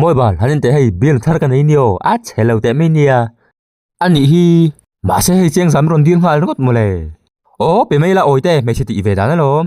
Mawi bal, han inteh hei bial thar ka nei ni aw, a chhe lo teh mai nia. A nih hi. Mahse hei chiang zam rawn dir nghal ringawt maw le. Aw, pe mai ila awite hmeichhe tih ve dan alawm.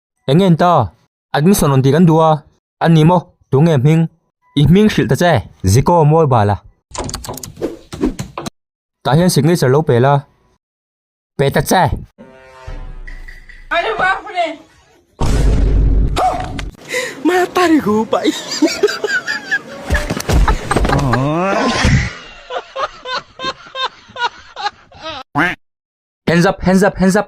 Eng ngen ta? Admission rawn tih kan duh a. A ni maw? Tû nge hming? I hming hrilh ta che. Zikaw mawi bal a. Tah hian signature lo pêl a. Pe ta che. Hands up, hands up, hands up.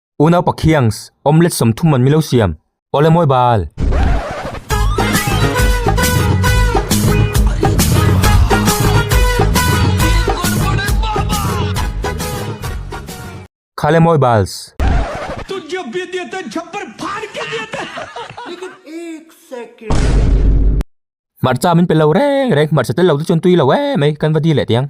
U naupa khiangs, omelette sawm thum man milo siam. Aw le mawi bal. Kha le mawi bals. Hmarcha min pe lo reng reng, hmarcha tel lo te chuan tui lo emai kan va dil leh tiang.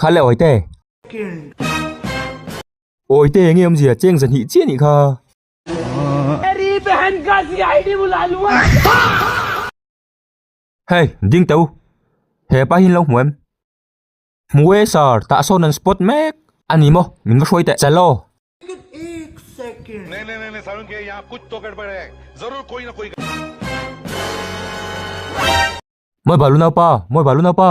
Kha le Awite. Awite enge awmzia cheng za hnih chiah nih kha. Hey, ding teh u. He pa hi in lo hmu em? Hmu e sir, tah sawn an spot mek. A ni maw? Min va hruai teh. Chalo. Mawi bal u naupa, mawi bal u naupa.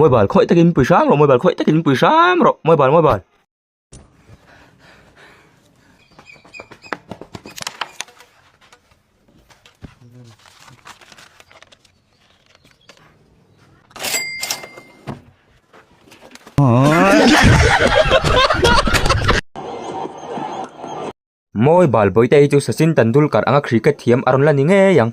mobile khawih takin pui hrang rawh mobile khawih takin pui hrang rawh mobile mobile. Mawi bal bawihte hi chu Sachin Tendulkar anga cricket thiam a rawn la ni ngei ang.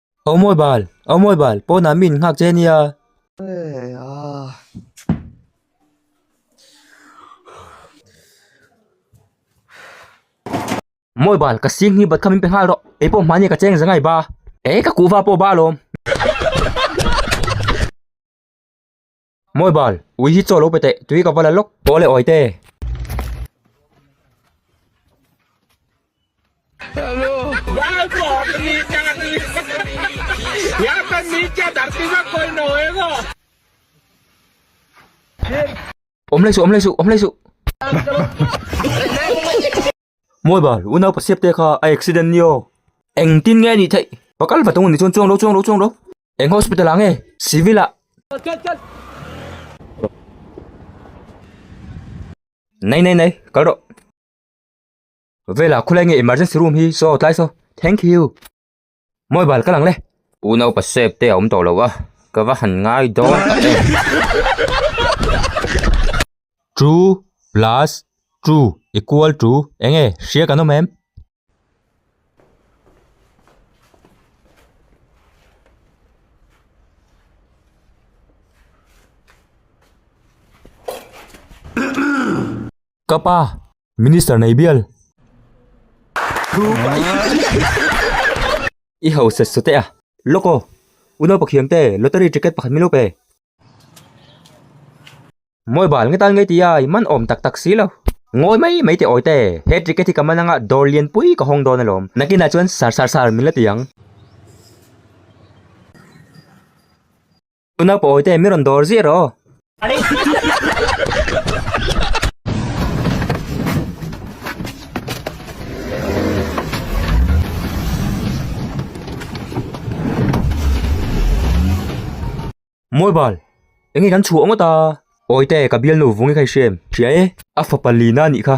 Au mawi bal, au mawi bal, pawnah mi in nghak che nia. Hey, ah. Mawi bal, ka sing hi bat kha min pe nghal rawh. Ei pawh hmani ka cheng za ngai ba. Ei, ka kuhva pawh ba alawm. Mawi bal, ui hi chaw lo pe teh, tui ka va la lawk. Paw leh awi te. Awm leh suh, awm leh suh, awm leh suh. Mawi bal, u nau pasiap te kha a accident ni aw. Eng tin nge anih theih? Pa kal va thung ni chuan chuang lo chuang lo chuang lo. Eng hospital ah nge? Civil ah. Nei nei nei, kal rawh. Vela khulai nge emergency room hi saw tlai saw. Thank you. Mobile ka lang le. Pu Naupa sep te a awm tawh lo a, ka va han ngai dawn a e. Two plus two equal to eng nge? Hria kan awm em? Ka pa, Minister nei bial. I ho set su teh a. Lawk aw. U naupakh hiam te, lottery ticket pakhat min up e. Mawi bal nge tan nge ti ai, man awm tak tak si lo. Ngawi mai mai teh awi te, he ticket hi ka man anga dawr lian pui ka hawng dawn a lawm. Nakin ah chuan sar sar sar min la ti ang. Tuna pawi te mi rawn dawr zir aw. Mobile, enge kan chhuah ngot a. Awi te ka bial nu vungi kha i hrem hria e. A fapa Lina nih kha.